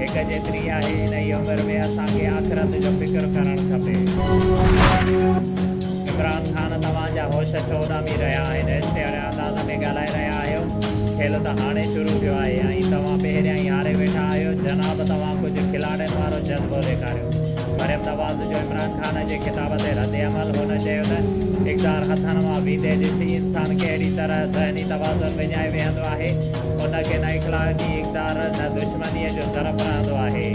هڪ جيتري آهي انهي عمر ۾ اسان کي آخرت جو فڪر ڪرڻ کپي. عمران خان توهان جا هوش ڇو اڏامي رهيا آهن عشق اڙي انداز ۾ ڳالهائي رهيا آهيو کيل ته هاڻي شروع ٿيو آهي ۽ توهان پهريائين هاري ويٺا آهيو جناب توهان ڪجهه کلاڙين وارو جذبو ڏيکاريو مريم نواز جو عمران خان جي خطاب تي رد عمل هن چيو ته اقدار هٿن مان ويندي ڏسي انسان ڪهڙي طرح ذهني توازن وڃائي ويهندو آهي ان کي نه اخلاقي ڊار نه دشمنيء جو ضرب رهندو آهي.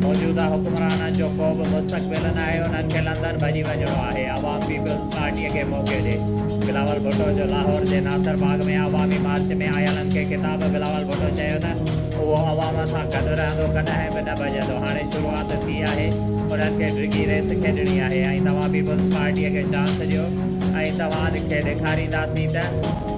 موجوده حڪمرانن جو ڪو به مستقبل ناهي، انهن کي لندن ڀڄي وڃڻو آهي. عوام پيپلز پارٽيء کي موقعو ڏي. بلاول ڀٽو جو لاهور جي ناصر باغ ۾ عوامي مارچ ۾ آيلن کي خطاب بلاول ڀٽو چيو ته اهو عوام سان گڏ رهندو ڪڏهن به نه ڀڄندو هاڻي شروعات ٿي آهي انهن کي ڊگهي ريس کيڏڻي آهي ۽ توهان پيپلز پارٽيء کي چانس ڏيو ۽ توهان کي ڏيکارينداسين ته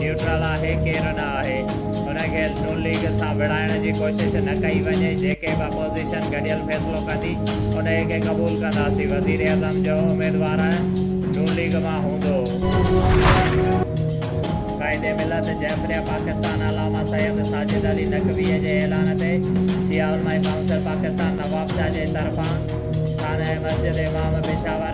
نيوٽرل آهي ڪير نه آهي ان کي نون ليگ سان وڙهائڻ جي ڪوشش نه ڪئي وڃي جيڪي به اپوزيشن گڏيل فيصلو ڪندي انهي کي قبول ڪنداسين وزيراعظم جو اميدوار نون ليگ مان هوندو. قائد ملت جعفريه پاڪستان علامه سيد ساجد علي نقويء جي اعلان تي شيعه علماء ڪائونسل پاڪستان نوابشاهه جي طرفان سانحه مسجد امام پشاور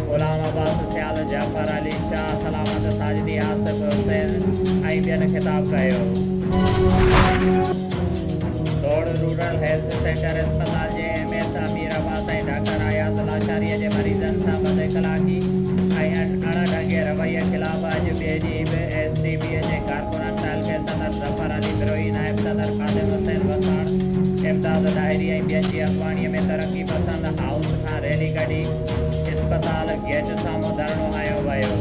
غلام عباس سيال، جعفر علي شاهه، سلامت ساجدي، آصف حسين ۽ ٻين خطاب ڪيو. ڊوڙ رورل هيلٿ سينٽر اسپتال جي M S Amir Abbas ۽ doctor Ayaz لاشاريء جي مريضن سان بد اخلاقي ۽ اڻ ڍنگي رويي خلاف اڄ ٻئي ڏينهن به ايس ٽي بي جي ڪارڪنن تعلقي صدر ظفر علي بروهي، نائب صدر خادم حسين وساڻ، امداد ڏاهري ۽ ٻين جي اڳواڻيء ۾ ترقي پسند هائوس کان ريلي ڪڍي. اسپتال گيٽ سامهون ڌرڻو هنيو ويو.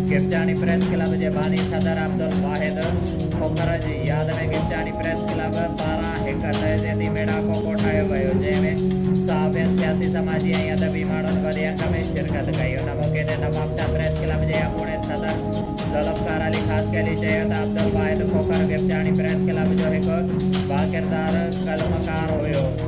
گپچاڻي پريس ڪلب جي باني صدر عبدالواحد کوکر جي ياد ۾ گپچاڻي پريس ڪلب پاران هڪ تعزيتي ميڙاڪو ڪوٺايو ويو جنهن ۾ صحافين سياسي سماجي ۽ ادبي ماڻهن وڏي انگ ۾ شرڪت ڪئي ان موقعي تي نوابشاهه پريس ڪلب جي اڳوڻي صدر ذوالفقار علي خاصخيلي چيو ته عبدالواحد کوکر گپچاڻي پريس ڪلب جو هڪ باڪردار قلمڪار هيو.